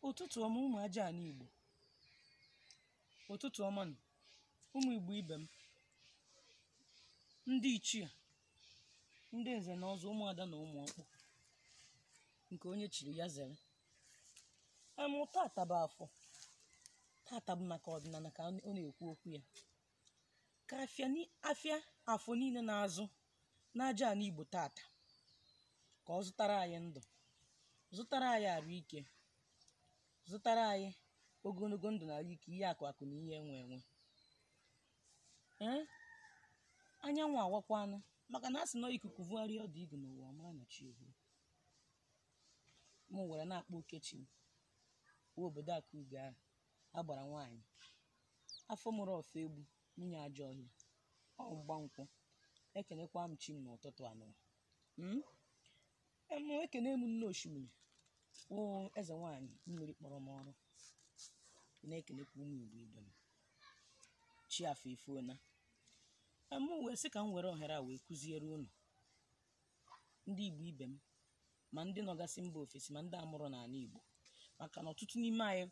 ụtụtụ ọma ụmụ aja ana igbo ụtụtụ ọma nụ ụmụ igbo ibe m ndị ichie ndị nze na ọzọ ụmụada na ụmụ ọkpụ nke onye chiri ya zere em tata bụ afọ tata bụ maka ọdịnana ka ọ na-ekwu okwu ya ka afịa ni- afịa afọ niile na-azụ n'aja ana igbo tata ka ọ zụtara anyị ndụ zụtara anyị arụ ike zụtara anyị ogonogo ndụ na arụ ike ihe akụ akụ na ihe enwe enwe ee anyanwụ awakwanụ maka na a sị na ikuku vụgharịa ọdụ igu n'ụwa mara na chi ehu m were na-akpọ oke chi m nwe obodo akụ ugo ahụ agbara nwaanyị afọ mụrụ ọfọ egbu nwunye ajọ ọhịa ọgba nkwụ ekenekwa m chi m n'ụtụtụ a nụwa em ekene m nne oshimiri o eze nwaanyị mmiri kpọrọ m ọrụ na-ekenekwa ụmụ igbo ibe m chi afọ efona em m wee sị ka m were ohere a wee kụziere unu ndị Igbo ibe m ma ndị nọgasị mba ofesi ma ndị a mụrụ n'ana Igbo maka na ọtụtụ n'ime anyị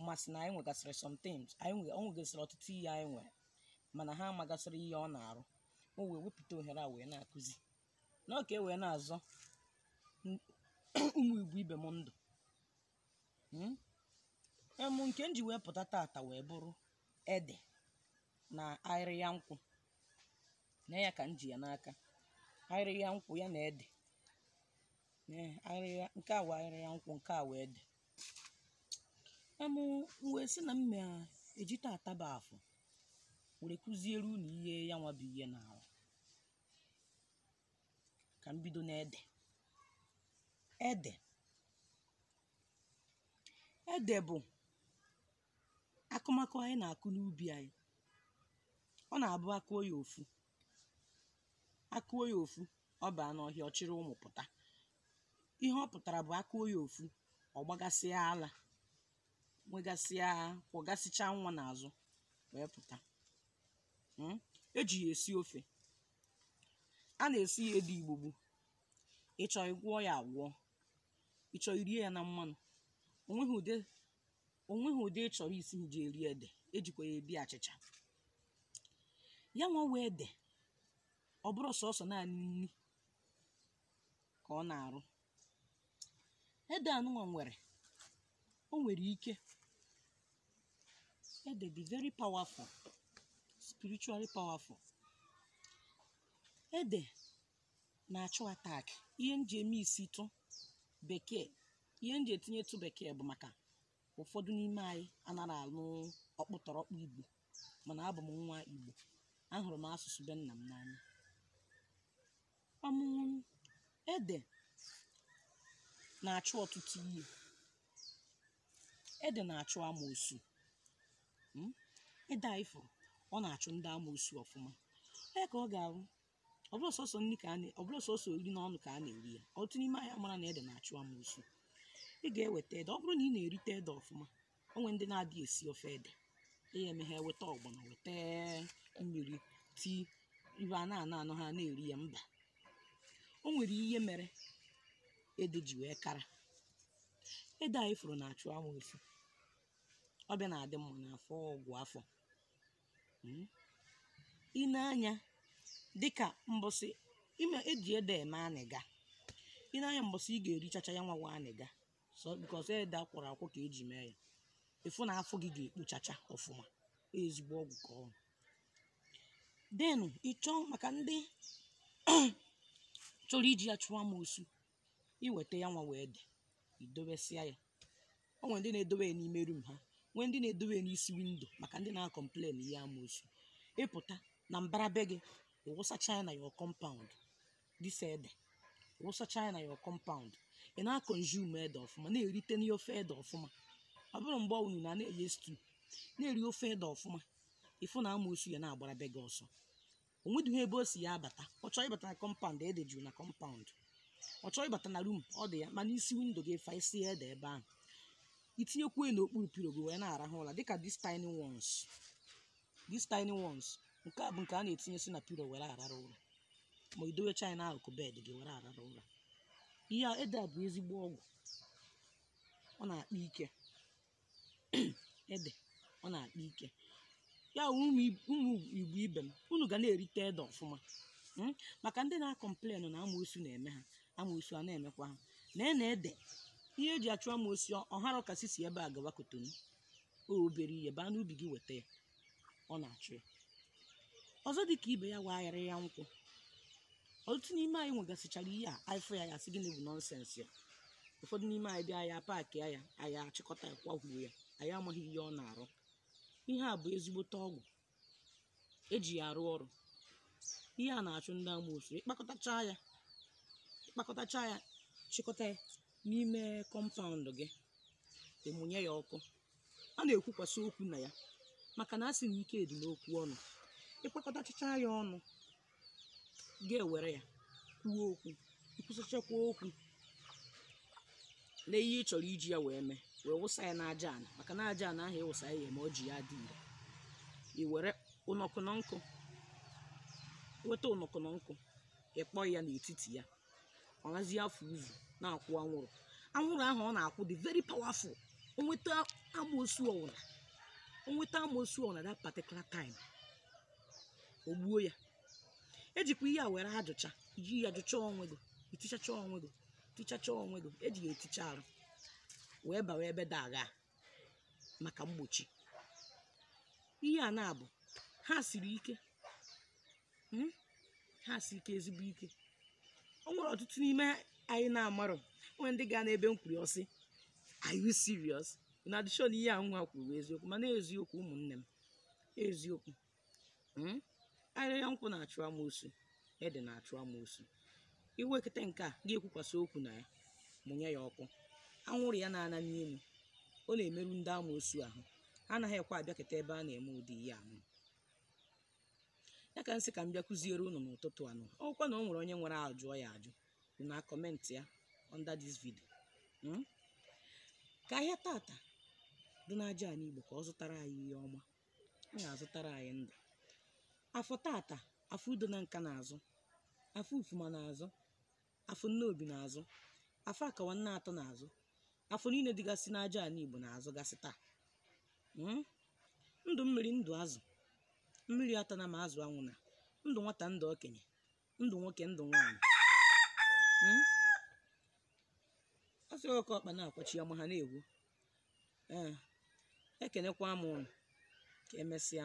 masị na anyị nwegasịrị sometimes anyị nwe ọ nwegasịrị ọtụtụ ihe anyị nwere mana ha amagasịrọ ihe ọ na-arụ o wee wepụta ohere a wee na-akụzi na ọ ka e wee na-azọ n- ụmụ Igbo ibe m ndụ em nke m ji wee pụta tata wee bụrụ ede na ahịrịa nkwụ na ya ka m ji ya n'aka ahịrịa nkwụ ya na ede nke a wụ ahịrịa nkwụ nke a wụ ede em m wee sị na m ma eji tata bụ afọ were kụziere unu ihe ya nwa bụ ihe na-arụ ka m bido n'ede ede ede bụ akụmakụ anyị na-akụ n'ubi anyị ọ na-abụ a kụọ ya ofu a kụọ ya ofu ọ baa n'ọhịa ọ chịrị ụmụ pụta ihe ọ pụtara bụ a kụọ ya ofu ọ gbagasịa ala nwegasịa kwọgasịcha nwa n'azụ wee pụta Mm. e ji ya esi ofe a na-esi ya ede igbugbo ị chọọ ị gwọọ ya agwọ ị chọọ i rie ya na mmanụ o nweghị ụdị o nweghị ụdị ị chọrọ isi ji eri ede e jikwa ya eri achịcha ya nwa wụ ede ọ bụrọ sọsọ naanị nni ka ọ na-arụ ede anụnwa nwere o nwere ike ede dị very powerful spiritually powerful ede na-achụ attack ihe m ji eme isi tụ bekee ihe m ji etinyetụ bekee bụ maka ụfọdụ n'ime anyị anara anụ ọkpụtọrọkpụ igbo mana abụ m nwa igbo ahụrụ m asụsụ be nna m n'anya ọmụmụ ede na-achụ ọtụtụ ihe ede na-achụ amoosu Mm? ede anyị fụrụ ọ na-achụ ndị amoosu ọfụma ee ka ọ ga-ahụ ọ bụrụ sọsọ nri ka a na- ọ bụrụ sọsọ iri n'ọnụ ka a na-eri ya ọtụtụ n'ime anyị amara na ede na-achụ amoosu ị ga-eweta ede ọ bụrụ na ị na-erite ede ọfụma o nwere ndị na-adịghị esi ofe ede ya eme ha eweta ọgbọnọ weta mmiri tii ihe a na-anọ anọ ha na-eri ya mba o nwere ihe mere ede ji wee kara ede anyị fụrụ na-achụ amoosu ọ bịa na-adị mma n'afọ ọgwụ afọ Mm. i nee anya dịka mbọsị eji ede eme anịga i nee anya mbọsị ị ga-erichacha ya nwa wụ anịga so because ede akwọrọ akwọ ka eji mee ya ịfụ na afọ gị ga-ekpochacha ọfụma ezigbo ọgwụ ka ọ then ịchọọ maka ndị chọrọ iji ya chụọ amoosu iweta ya nwa wụ ede idobesịa ya o nwere ndị na-edobe ya n'ime rum ha nwee ndị na-edobe ya n'isi windo maka ndị na-akọmplen ihe amoosu ịpụta na mbara be gị ịwụsacha ya na your compound this ede wụsacha ya na your compound ị na-akọnzume ede ọfụma na-erite n'ihe ofe ede ọfụma ọ bụrọ mgbe ọwụla na-eye stew na-eri ofe ede ọfụma ịfụ na amoosu ya na-agbara be gị ọsọ o nwedịghị ebe o si ya abata ọ chọọ ịbata na kọmpaụnd ede juru na kọmpaụnd ọ chọọ ịbata na rum ọ dị ya ma n'isi windo gị fasịa ede ebe ahụ itinyekwuo ya n'okpuru pilo gị wee na-arahụ ụra dịka these tiny ones these tiny ones nke a bụ nke a na-etinyesi na pilo were arara ụra ma idowecha ya n'akụkụ bed gị were arara ụra ihe a ede a bụ ezigbo ọgwụ ọ na-akpa ike ede ọ na-akpa ike ya wụ ụmụ ib- ụmụ igbo ibe m unu ga na-erite ede ọfụma Mm? maka ndị na-akọmplen na amoosu na-eme ha amoosu a na-emekwa ha na ena ede ihe eji achụ amoosu ọ hara ka sị si ebe a gawa kotonu ọ obere ihe baa n'ubi gị weta ya ọ na-achụ ya ọzọ dị ka ibe ya wụ aghịrịgha nkwụ ọtụtụ n'ime anyị nwegasịchara ihe a anyị fụ ya ya sị gịnị bụ nonsense a ụfọdụ n'ime anyị bịa ya paakị ya ya anyị achịkọta ya kwahuo ya anyị amaghị ihe ọ na-arụ ihe a bụ ezigbote ọgwụ eji ya arụ ọrụ ihe a na-achụ ndị amoosu ịkpakọtacha ya ịkpakọtacha ya chịkọta ya n'ime compound gị ịmụnye ya ọkụ a na-ekwukwasị okwu na ya maka na a sị na ike dị n'okwu ọnụ ịkpakọtachacha ya ọnụ ga-ewere ya kwuo okwu ikwusịchakwa okwu na ihe ị chọrọ iji ya wee mee wee wụsa ya n'aja ana maka na aja ana ahụ ịwụsa ya ma o ji ya dị ire i were ụnọkụ na nkụ weta ụnọkụ na nkụ ịkpọ ya n'etiti ya ọ nazi afụ uzu na-akwụ anwụrụ anwụrụ ahụ ọ na-akwụ dị very powerful o nweta amoosu ọwụna that particular time o gbuo ya ejikwa ihe a were ajụcha iji ya jụcha onwe gị itichacha onwe gị tichacha onwe gị eji ya eticha arụ wee bawa ebe dị agha maka mgbochi ihe naabọ a siri ike mm, ha si ike ezigbo ike o nwere ọtụtụ n'ime anyị na-amarọ o nwee ndị ga-anụ ebe m kwuru ọ sị are you serious na a dị sure na ihe a nwa kwuru eziokwu mana eziokwu ụmụnne m eziokwu mm? ahịrịa nkwụ na-achụ amoosu ede na-achụ amoosu iwekọta nke a ga-ekwukwasị okwu na ya mụnye ya ọkụ anwụrụ ya na-ana n'elu ọ na-emerụ ndị amoosu ahụ ha anaghị ekwe abịakọta ebe a na-eme ụdị ihe ahụ ya ka m sị ka m bịa kụziere unu n'ụtụtụ a nụ ọ wụkwa na o nwere onye nwere ajụjụ ya jụọ na comment ya under this video hmm? ka ahịa tata dị n'aja ana Igbo ka ọ zụtara anyị ihe ọma ọ ga-azụtara anyị ndụ afọ tata Afọ Udo Nanka na-azụ Afọ Ufuma na-azụ Afọ Nnobi na-azụ Afọ Akawa Nneatọ na-azụ afọ niile dịgasị n'aja ana Igbo na-azụgasị taa hmm? ndụ mmiri ndụ azụ mmiri atana ma azụ anwụna ndụ nwata ndụ okenye ndụ nwoke ndụ nwaanyị Mm? a sị oke ọkpa na-akwachi ama aha na-ewu ee ekenekwa m unu ka emesịa